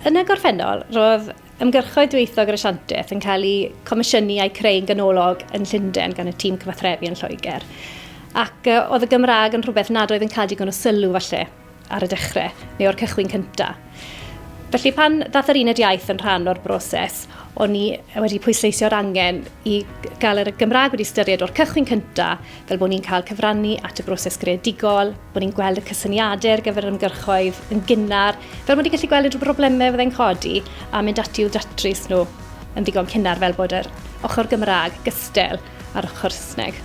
Yn y gorffennol, roedd ymgyrchoedd dwyieithog yr Asiantaeth yn cael eu comisiynu a'u creu'n ganolog yn Llundain gan y tîm cyfathrebu yn Lloegr, ac oedd y Gymraeg yn rhywbeth nad oedd yn cael digon o sylw, falle, ar y dechrau, neu o'r cychwyn cyntaf. Felly pan ddath yr uned iaith yn rhan o'r broses, o'n i wedi pwysleisio'r angen i gael yr Gymraeg wedi ystyried o'r cychwyn cynta, fel bod ni'n cael cyfrannu at y broses greadigol, bod ni'n gweld y cysyniadau ar gyfer yr ymgyrchoedd yn gynnar, fel bod ni'n gallu gweld unrhyw broblemau fyddai'n codi a mynd ati i'w datrys nhw yn ddigon cynnar fel bod yr ochr Gymraeg gystel a'r ochr Saesneg.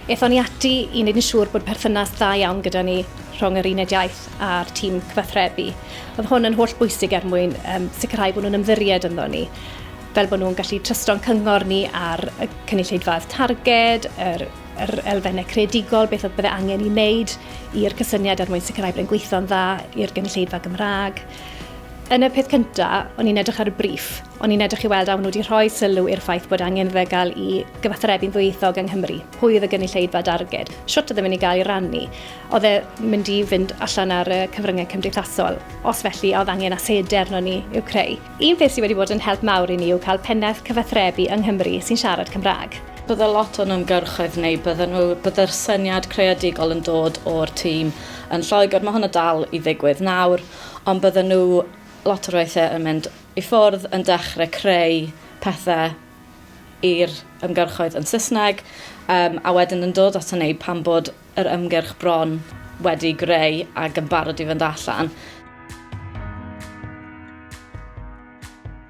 Aethon ni ati i wneud yn siŵr bod perthynas dda iawn gyda ni rhwng yr uned iaith a'r tîm cyfathrebu. Oedd hwn yn holl bwysig er mwyn um, sicrhau bod nhw'n ymddiried ynddo ni fel bod nhw'n gallu trysto'n cyngor ni ar y cynulleidfaoedd targed, yr, yr elfennau creadigol, beth oedd bydde angen i wneud i'r cysyniad er mwyn sicrhau bod e'n gweithio'n dda i'r gynulleidfa Gymraeg. Yn y peth cyntaf, o'n i'n edrych ar y briff, o'n i'n edrych i weld a nhw wedi rhoi sylw i'r ffaith bod angen fe gael i gyfathrebu'n ddwyieithog yng Nghymru. Pwy oedd y gynulleidfa darged? Siwt oedd yn mynd i gael ei rannu? Oedd e mynd i fynd allan ar y cyfryngau cymdeithasol? Os felly, a oedd angen asedi arnon ni i'w creu? Un peth sydd wedi bod yn help mawr i ni yw cael pennaeth cyfathrebu yng Nghymru sy'n siarad Cymraeg. Bydde lot o'n ymgyrchoedd ni, bydden nhw, bydde'r syniad creadigol yn dod o'r tîm yn Lloegr, mae hwnna dal i ddigwydd nawr, ond bydden nhw lot o'r weithiau yn mynd i ffwrdd yn dechrau creu pethau i'r ymgyrchoedd yn Saesneg, um, a wedyn yn dod ato ni pan bod yr ymgyrch bron wedi greu ac yn barod i fynd allan.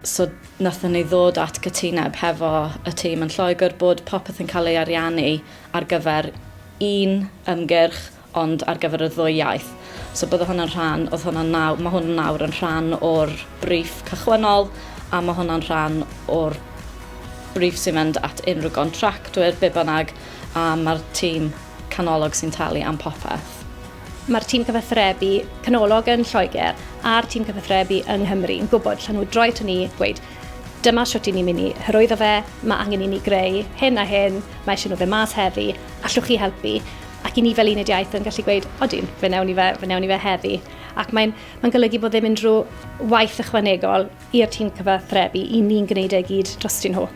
So nathon ni ddod at gytuneb hefo y tîm yn Lloegr bod popeth yn cael ei ariannu ar gyfer un ymgyrch ond ar gyfer y ddwy iaith. So bydde hwnna'n rhan, oedd hwnna'n nawr, mae hwn nawr yn rhan o'r briff cychwynnol a mae hwnna'n rhan o'r briff sy'n mynd at unrhyw gontractwyr, be bynnag, a mae'r tîm canolog sy'n talu am popeth. Mae'r tîm cyfathrebu canolog yn Lloegr a'r tîm cyfathrebu yng Nghymru yn gwybod llan nhw droi to ni, gweud dyma shwt i ni mynd i hyrwyddo fe, mae angen i ni greu hyn a hyn, mae eisiau nhw fe mas heddi, allwch chi helpu? Ac i ni fel uned iaith yn gallu gweud, odyn, fe newn ni fe, fe newn ni fe heddi. Ac mae'n mae golygu bod ddim unrhyw waith ychwanegol i'r tîm cyfathrebu, i ni'n gwneud e gyd drostyn nhw.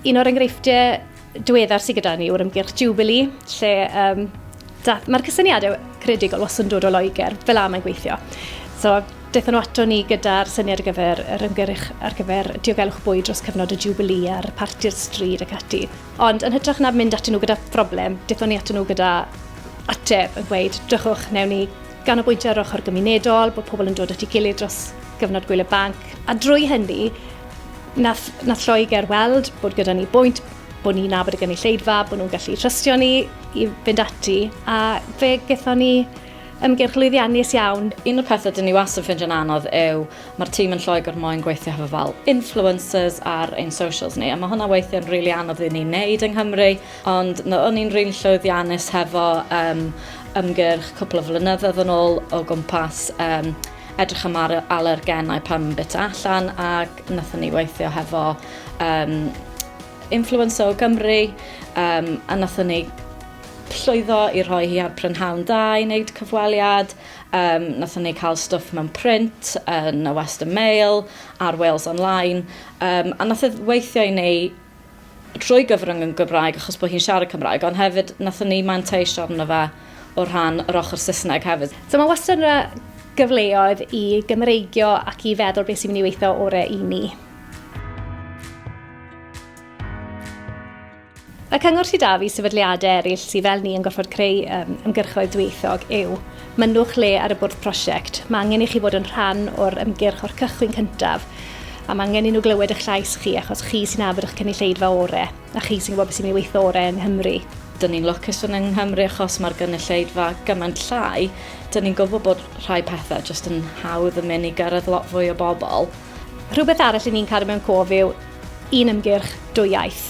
Un o'r enghreifftiau diweddar sydd gyda ni yw'r ymgyrch Jubilee, lle um, mae'r cysyniadau credigol was yn dod o Loegr, fel am yn gweithio. So, Daethon nhw ato ni gyda'r syniad ar gyfer yr ymgyrch ar gyfer diogelwch bwyd dros cyfnod y Jubilee a'r parti'r stryd ac ati. Ond yn hytrach na mynd atyn nhw gyda phroblem, daethon ni atyn nhw gyda ateb yn gweud, drychwch, newn ni Ganolbwyntio ar ochr gymunedol, bod pobl yn dod at ei gilydd dros gyfnod gwyl y banc, a drwy hynny, nath, nath Lloegr weld bod gyda ni bwynt, bod ni'n nabod y gynulleidfa, bod nhw'n gallu trystio ni i fynd ati, a fe gython ni ymgyrch lwyddiannus iawn. Un o'r pethau dyn ni wastad yn ffindio'n anodd yw mae'r tîm yn Lloegr moyn gweithio hefo fel influencers ar ein socials ni, a mae hwnna weithiau'n rili really anodd i ni wneud yng Nghymru, Ond no, o'n i'n rili llwyddiannus hefo um, ymgyrch cwpl o flynyddoedd yn ôl o gwmpas um, edrych am ar alergenau pan yn bit allan ac nathon ni weithio hefo um, influencer o Gymru um, a nathon ni llwyddo i rhoi hi ar prynhawn da i wneud cyfweliad. Um, nathon ni cael stwff mewn print yn y Western Mail a'r Wales Online. Um, a nath e weithio i ni trwy gyfrwng yn Gymraeg achos bod hi'n siarad Cymraeg, ond hefyd nathon ni manteisio arno fe o rhan yr ochr Saesneg hefyd. So mae wastad yna gyfleoedd i Gymreigio ac i feddwl beth sy'n mynd i weithio orau i ni. Y cyngor sydd 'da fi sefydliadau eraill sydd fel ni yn gorfod creu ymgyrchoedd dwyieithog yw Mynnwch lle ar y bwrdd prosiect. Mae angen i chi fod yn rhan o'r ymgyrch o'r cychwyn cyntaf a mae angen i nhw glywed eich llais chi achos chi sy'n afr eich cynulleidfa orau a chi sy'n gwybod beth sy'n mynd i weithio orau yng Nghymru. Dyn ni'n lwcus fod yng Nghymru achos mae'r gynulleidfa gymaint llai, dyn ni'n gwybod bod rhai pethau jyst yn hawdd yn mynd i gyrraedd lot fwy o bobl. Rhywbeth arall i ni'n cadw mewn cof yw un ymgyrch, dwy iaith.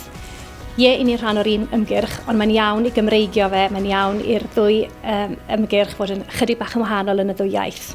Ie, i ni rhan o'r un ymgyrch, ond mae'n iawn i Gymreigio fe, mae'n iawn i'r ddwy um, ymgyrch fod yn chydig bach yn wahanol yn y ddwy iaith.